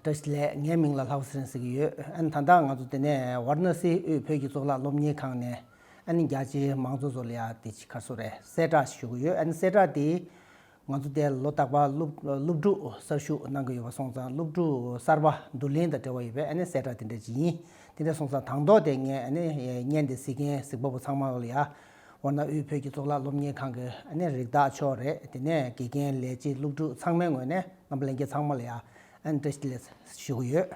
བཀྲ་ཤིས་ལས་ངའི་མིང་ལ་ལྷ་བུ་སེང་ཟེར་གྱི་ཡོད་ཨ་ནི་ད་ལྟ་ང་ཚོ་དེ་ནས་ཝར་ན་སིའི་དབུས་བོད་ཀྱི་གཙུག་ལག་སློབ་གཉེར་ཁང་ནས་ཨ་ནི་རྒྱ་ཆེའི་མང་གཙོ་བཟོ་ལ་ཡག་དེ་ཆི་ཁར་སོ་རེད་གསལ་བསྒྲགས་ཞུ་གི་ཡོད་ཨ་ནི་གསལ་བསྒྲགས་དེ་ང་ཚོ་དེ་ལོ་རྟག་པར་སློབ་ཕྲུག་གསར་ཞུགས་གནང་གི་ཡོད་པ་སོང་ཙང་སློབ་ཕྲུག་གསར་པ་བསྡུ་ལེན་དང་འབྲེལ་བ་ཡོད་པས་ཨ་ནི་གསལ་བསྒྲགས་དེ་འདྲ་ཇི་ཡིན་དེ་འདྲ་སོང་ཙང་དང་ཐོག་དེ་ངས་ཨ་ནི་བརྙན་དེ་གཟིགས་མཁན་གཟིགས་པ་པོ་ཚང་མ་ལ་ཡག་འོ་ན་དབུས་བོད་ཀྱི་གཙུག་ལག་སློབ་གཉེར་ཁང་གི་ནི་རིགས་བདག་མཆོག་རེད་དེ་ནས་དགེ་རྒན་ལས་བྱེད་སློབ་ཕྲུག་ཚང་མའི་ངོས་ནས་ངམ་གླེང་མཁན་ཚང་མ་ལ་ཡང་འདྲི་ལེ་ཞུ་གི་ཡོད།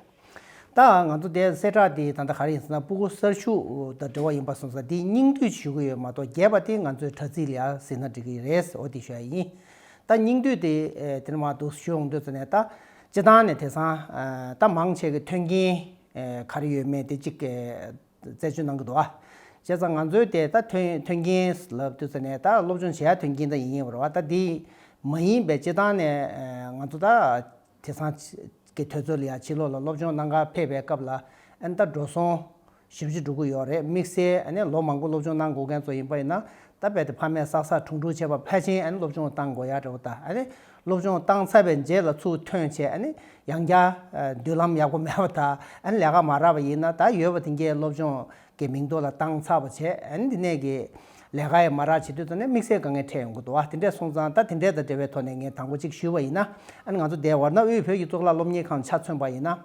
ད་ང་ཚོ་དེ་གསལ་བསྒྲགས་འདི་ད་ལྟ་ག་རེ་ཡིན་ཟེར་ན་སྤུ་གུ་གསར་ཞུགས་དང་འབྲེལ་བ་ཡིན་པ་སོང་ས་འདི་སྙིང་བསྡུས་ཞུ་གི་ཡོད་མ་གཏོགས་རྒྱས་པ་དེ་ང་ཚོའི་དྲ་ཚིགས་ལ་ཡང་ཟིན་ན་འགྲིག་གི་རེད་ཟེར་བ་དེ་ཞུ་ཡ་ཡིན། ད་སྙིང་བསྡུས་དེ་དེ་འདྲ་མ་འདུག་ཞུ་འོང་དུས་ཟེར་ནས་ད་སྤྱི་བཏང་ནས་དེ་སང་ད་མང་ཆེ་གི་མཐུན་རྐྱེན་ག་རེ་ཡོད་མེད་དེ་གཅིག་བཙལ་བྱོལ་གནང་གི་འདུག་བྱས་ཙང་ང་ཚོའི་དེ་ད་ཐོན་ཐོན་རྐྱེན་ལབ་བསྟོད་ཚེ་ནས་ད་སློབ་སྦྱོང་བྱས་ཡ་ཐོན་རྐྱེན་ད་ཡིན་ཡིན་བར་བ་ད་དེ་མ་ཡིན་པའི་སྤྱི་ཐང་ནས་ང་ཚོ་ད་དེ་སང་གི་ཐོས་ཚོལ་ཡ་ཕྱི་ལོག་ལ་སློབ་སྦྱོང་གནང་ག་ཕེབས་པའི་སྐབས་ལ་ཨན་ད་འགྲོ་སོང་ཞིབ་བྱེད་འགྲོ་གི་ཡོག་རེད་དམིགས་བསལ་ཨན་ལོ་མང་པོ་སློབ་སྦྱོང་གནང་དགོ་མཁན་ཚོ་ཡིན་པ་ཡིན་ན་ད་རྦད་དེ་ཕ་མས་བསགས་བསགས་འཁྲུང་འཁྲུང་བྱས་པ་ཕལ་ཆེན་ཨན་སློབ་སྦྱོང་གཏང་དགོ་ཡ་རེད་བ་ད་ཨན་སློབ་སྦྱོང་བཏང་ཚར་བའི་རྗེས་ལ་ཚུར་ཐོན་ཆེད་ཡང་བསྐྱར་མདུན་ལམ་ཡག་པོ་མེད་པ་དང་ལས་ཀ་མ་རག་པ་ཡིན་ན་ད་ཡོད་པ་དེ་འགའི་སློབ་སྦྱོང་གི་མིང་ཐོ་ལ་བཏང་ཚར་བ་བྱས་འདི་ནས་ཀྱི་ལས་ཀ་ཡང་མ་རག་བྱེད་དུས་ད་ནི་དམིགས་བསལ་དཀའ་ངལ་འཕྲད་ཡོང་གི་འདུག་དེ་འདྲས་སོང་ཙང་ད་དེ་འདྲས་དང་འབྲེལ་བའི་ཐོག་ནས་ངས་དང་པོ་གཅིག་ཞུས་པ་ཡིན་ན་ང་ཚོ་འདས་བར་གནའ་བོའི་བོད་ཀྱི་གཙུག་ལག་སློབ་གཉེར་ཁང་ཆ་མཚོན་པ་ཡིན་ན།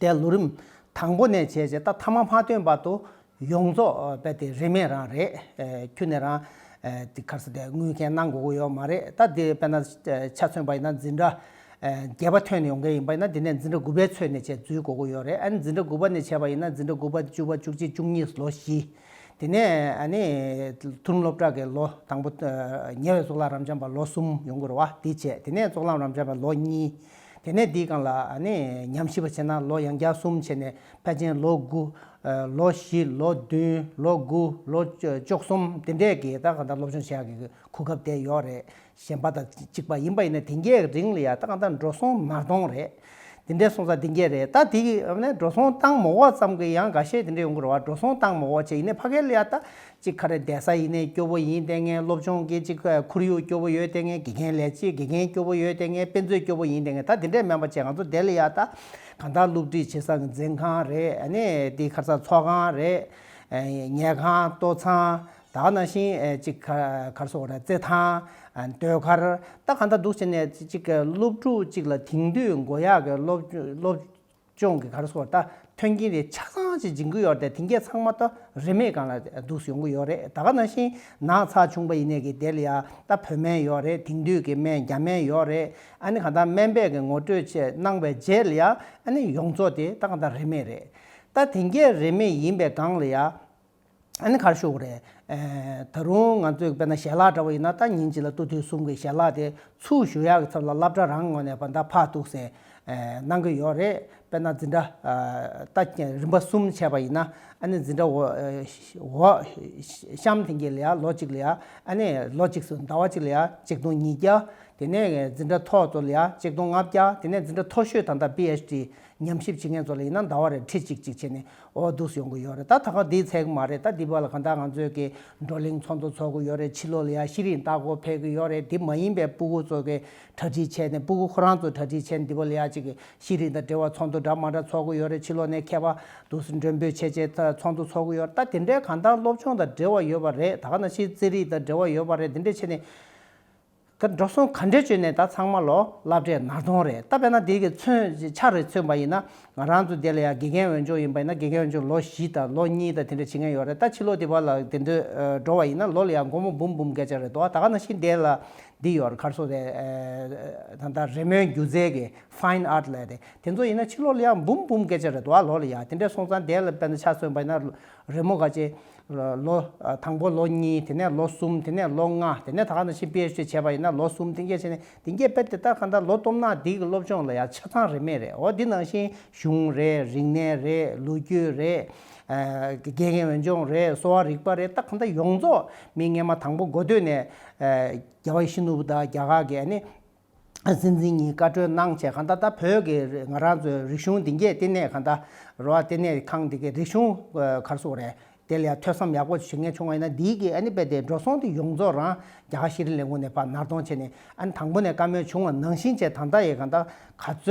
དེ་ལོ་རིམ་དང་པོ་ནས་བྱས་རྗེས་ད་ཐ་མ་མ་ཐོན་བར་དུ་ཡོངས་རྫོགས་དཔེ་དེ་རིན་མེད་རང་རེད། ཁྱོད་ནས་རང་གི་ཁར་ས་དེ་དངུལ་མཁན་གནང་དགོས་གི་ཡོད་མ་རེད་ད་དེ་དཔེ་ན་ཆ་མཚོན་པ་ཡིན་ན་འཛིན་གྲྭ་བརྒྱད་པ་ཐོན་ནས་ཡོང་མཁན་ཡིན་པ་ཡིན་ན་དེ་ནས་འཛིན་གྲྭ་དགུ་པའི་ཚོད་ནས་བྱས་འཛུལ་དགོས་གི་ཡོད་རེད་ཨཱ་ནི་འཛིན་གྲྭ་དགུ་པ་ནས་བྱས་པ་ཡིན་ན་འཛིན་གྲྭ་དགུ་པ་བཅུ་པ་བཅུ་གཅིག་བཅུ་གཉིས་ལོ་བཞི། དེ་ནས་ཨཱ་ནི་མཐོ་རིམ་སློབ་གྲྭ་གི་ལོ་དང་པོ་ཉེ་བའི་གཙུག་ལག་རམ་འཆམ་པ་ལོ་གསུམ་ཡོང་དགོས་རེད་བ་དེ་བྱས་དེ་ནས་གཙུག་ལམ་རམ་འཆམ་པ་ལོ་གཉིས། དེ་ནས་དེའི་སྒང་ལ་ཉམས་ཞིབ་པ་བྱས་ན་ལོ་ཡང་བརྒྱ་གསུམ་བྱས་ནས་དཔལ་ཆེན་ལོ་དགུ། ལོ་བཞི་ལོ་བདུན་ལོ་དགུ་ལོ་བཅོ་གསུམ་དེ་འདྲས་ཀྱི་ད་གང་ལྟར་སློབ་སྦྱོང་བྱེད་ཡག་གི་གོ་སྐབས་དེ་ཡོད་རེད་གཞན་པ་དང་གཅིག་པ་ཡིན་པ་ཡིན་ན་དེ་འགའི་རིང་ལ་ཡང་ད་གང་ལྟར་འགྲོ་སོང་མར་གཏོང་རེད། དེ་འདྲས་སོང་ཙང་དེ་འགའི་རེད་ད་དེ་འགྲོ་སོང་བཏང་མོག་བ་ཙམ་གྱི་ཡང་འགའ་ཤས་དེ་འདྲས་ཡོང་གི་རེད་བ་འགྲོ་སོང་བཏང་མོག་བ་བྱས་ཡིན་ནས་ཕ་གའི་ལ་ཡང་ད་གཅིག་ཁ་རེ་བསྡད་ས་ཡིན་ནས་སྐྱོ་བོ་ཡིན་ལྟས་ངན་སློབ་སྦྱོང་གི་གཅིག་ཁོར་ཡུག་སྐྱོ་བོ་ཡོད་ལྟས་ངན་དགེ་རྒན་ལས་བྱེད་དགེ་རྒན་སྐྱོ་བོ་ཡོད་ལྟས་ངན་དཔེ་མཛོད་སྐྱོ་བོ་ཡིན་ལྟས་ངན་ད་དེ་འདྲའི་སྨན་པ་བྱས་ང་ཚོ་བསྡད་ལ་ཡག་ད། གང་ལྟར་སློབ་ཁྲིད་བྱེད་ས་གི་འཛིན་ཁང་རེད་ནས་དེའི་ཁར་ཚགས་ཚོགས་ཁང་རེད། ཉལ་ཁང་ལྟོ་ཚང་ད་ནང་བཞིན་གཅིག་ཁ་ཁར་སོ་ར་རྩེད་ཐང། ཟློས་གར་ད་གང་ལྟར་འདུག་བྱས་ནས་གཅིག་སློབ་ཕྲུག་གཅིག་ལ་དེང་དུས་མགོ་ཡག་གི་སློབ། ཅོང་གི་གར་སོགས་ད་ཐོན་གྱིན་རེད་ཆ་ཚང་ཞིག་སྦྱིན་གི་ཡོད་རེད་དེང་སྐད་ཚང་མ་ད་རིན་མེད་སྒང་ལ་འདུག་ཡོང་གི་ཡོད་རེད་ད་ག་ནང་བཞིན་ནང་ཚགས་ཆུང་པ་ཡིན་ནས་གི་དེ་ལ་ཡ་ད་བོད་སྨན་ཡོད་རེད་དེང་དུས་གི་སྨན་རྒྱ་སྨན་ཡོད་རེད་ཨ་ནི་གང་ད་སྨན་པས་གི་ངོ་སྤྲོད་ཆེད་གནང་བའི་རྗེས་ལ་ཡ་ཨ་ནི་ཡོངས་རྫོགས་དེ་ད་གང་ད་རིན་མེད་རེད་ད་དེང་སྐད་རིན་མེད་ཡིན་པའི་སྒང་ལ་ཡ། ཨ་ནི་གར་ཞུ་བ་རེད། ད་རུང་ང་ཚོས་དཔེར་ན་ཞལ་ལག་འདྲ་བོ་ཡིན་ན་ད་ཉིན་གཅིག་ལ་ཏུ་ཐུའི་གསུམ་གྱི་ཞལ་ལག་དེ་ཚུར་ཞུ་ཡག་གི་ཚབ་ལ་སླབ་གྲྭ་རང་ངོས་ནས་བ་ད་ཕག་འདུག་ཟེར། གནང་གི་ཡོད་རེད་དཔེར་ན་འཛིན་གྲྭ། ད་རིམ་པ་གསུམ་བྱས་པ་ཡིན་ན་ཨ་ནི་འཛིན་གྲྭ་འོ། གཤམ་ཐེངས་གཅིག་ལ་ཡ་ལོ་གཅིག་ལ་ཡ་ཨ་ནི་ལོ་གཅིག་སུ་ཟླ་བ་གཅིག་ལ་ཡ་གཅིག་སྟོང་ཉིས་བརྒྱ། དེ་ནས་འཛིན་གྲྭ་མཐོ་བཙོ་ལ་ཡ་གཅིག་སྟོང་ལྔ་བརྒྱ་དེ་ནས་འཛིན་གྲྭ་མཐོ་ཤོས་དང་ད PHD ཉམས་ཞིབ་བྱེད་མཁན་ཚོ་ལ་ཡིན་ན་ཟླ་བ་རེར་ཁྲི་གཅིག་གཅིག་བྱས་ནས་འོ་འདུག་ཡོང་གི་ཡོད་རེད་ད་ད་ཁ་དེའི་ཚད་མ་རེད་ད་འདི་བར་ལ་གང་ལྟར་ང་ཚོས་ཀྱི་བགྲོ་གླེང་ཚོགས་འདུ་ཚོགས་ཀྱི་ཡོད་རེད་ཕྱི་ལོགས་ལ་ཡང་ཤེས་རིག་ལྟ་སྐོར་ཕེབས་ཀྱི་ཡོད་རེད་དེ་མ་ཡིན་པའི་སྤུ་གུ་ཚོ་གི་གྲ་སྒྲིག་བྱས་ནས་སྤུ་གུ་ཁོ་རང་ཚོ་གྲ་སྒྲིག་བྱས་ནས་འདི་བར་ལ་ཡང་ཅིག་ཤེས་རིག་དང་འབྲེལ་བ་ཚོགས་འདུ་འདྲ་མ་འདྲ་ཚོགས་ཀྱི་ཡོད་རེད་ཕྱི་ལོགས་ནས་མཁས་པ་འདུག་ཟེར་མགྲོན་འབོད་བྱས་བྱས་ཚོགས་འདུ་ཚོགས་ཀྱི་ཡོད་རེད་ད་དེ་འདྲའི་གང་ལྟར་སློབ་སྦྱོང་དང་འབྲེལ་བ་ཡོད་པ་རེད་ད་ག་ནང་ཤེས་རྩེད་རིག་དང་འབྲེལ་བ་ཡོད་པ་རེད་དེ་འདྲའི་ཆེད་ནས། དེར་འགྲོ་སོང་ག་འདྲས་བྱོས་ནས་ད་ཚང་མ་ལོ་བསླབ་གྲས་ནར་གཏོང་རེད་ད་བས་ན་དེ་གི་མཚོན་ཆ་རེ་མཚོན་པ་ཡིན་ན་ང་རང་ཚོ་དེ་ལ་ཡང་དགེ་རྒན་འོས་སྦྱོང་ཡིན་པ་ཡིན་ན་དགེ་རྒན་འོས་སྦྱོང་ལོ་བཞི་དང་ལོ་གཉིས་དང་དེ་འདྲས་བྱེད་མཁན་ཡོད་རེད་ད་ཕྱི་ལོ་དེ་བར་ལ་དེ་འདྲས་འགྲོ་བ་ཡིན་ན་ལོ་ལ་ཡང་སྒོར་མོ་འབུམ་འབུམ་བརྒལ་ཆགས་རེད་དོ་ད་ག་ན་བཞིན་དེ་ལ་འདི་ཡོད་རེད་གར་སོང་རེད་ད་ལྟ་རེ་མོའི་སྒྱུ་རྩལ་གི Fine Art ལས་རེད་དེ་ཚོ་ཡིན་ན་ཕྱི་ལོ་ལ་ཡང་འབུམ་འབུམ་བརྒལ་ཆགས་རེད་དོ་ལོ་ལ་ཡང་དེ་འདྲས་སོང་ཙང་དེ་ལ་བས་ན་ཆ་མཚོན་པ་ཡིན་ན་རེ་མོ་ག་ཅེས། ལོ། དང་པོ་ལོ་གཉིས་དེ་ནས་ལོ་གསུམ་དེ་ནས་ལོ་ལྔ་དེ་ནས་ད་ག་ནང་བཞིན་སྤེལ་ཞེས་བྱས་པ་ཡིན་ན་ལོ་གསུམ་དེང་སྐད་བྱས་ནས་དེང་སྐད་སྤེལ་དེ་ལྟར་གང་ལྟར་ལོ་སྟོང་ནག་འདི་གི་སློབ་སྦྱོང་ལ་ཡང་ཆ་ཚང་རེ་མེད་རེད་འོ་འདི་ནང་བཞིན་གཞུང་རེད་རིག་གནས་རེད་ལོ་རྒྱུས་རེད། དགེ་རྒན་འོས་སྦྱོང་རེད་གསོ་བ་རིག་པ་རེད་ད་གང་ལྟར་ཡོངས་རྫོགས་མིང་སྔས་མ་དང་པོ་མགོ་སྟོད་ནས། རྒྱ་བ་ཡེ་ཤེས་ནོར་བུ་དང་རྒྱ་གར་གྱི་ཨ་ནི། སྲིད་འཛིན་གཉིས་བཀའ་འཁྲོལ་གནང་བྱས་གང་ད་ལྟ་བོད་ཀྱི་ང་རང་ཚོའི་རིག་གཞུང་འདི་འགྱེད་བསྟི་གནས་གང་ད་རོ་བསྟི་གནས་ཁང་འདི་གའི་རིག་གཞུང་གར་སོང་རེད་དེ་ལ་ཡང་ཐོས་བསམ་ཡག་པོ་བྱེད་མཁན་བྱུང་བ་ཡིན་ན་འདིའི་གི་ཨ་ནི་དཔེ་དེ་འགྲོ་སོང་དུ་ཡོངས་རྫོགས་རང་རྒྱ་གར་ཤེས་རིག་ལས་ཁུངས་ནས་ཕར་ནར་གཏོང་བྱས་ནས་ཨ་ནི་དང་པོ་ནས་བཀའ་མོལ་བྱུང་བ་ནང་བཞིན་བྱས་དང་ད་ཡི་གང་ད་ག་ཚོད་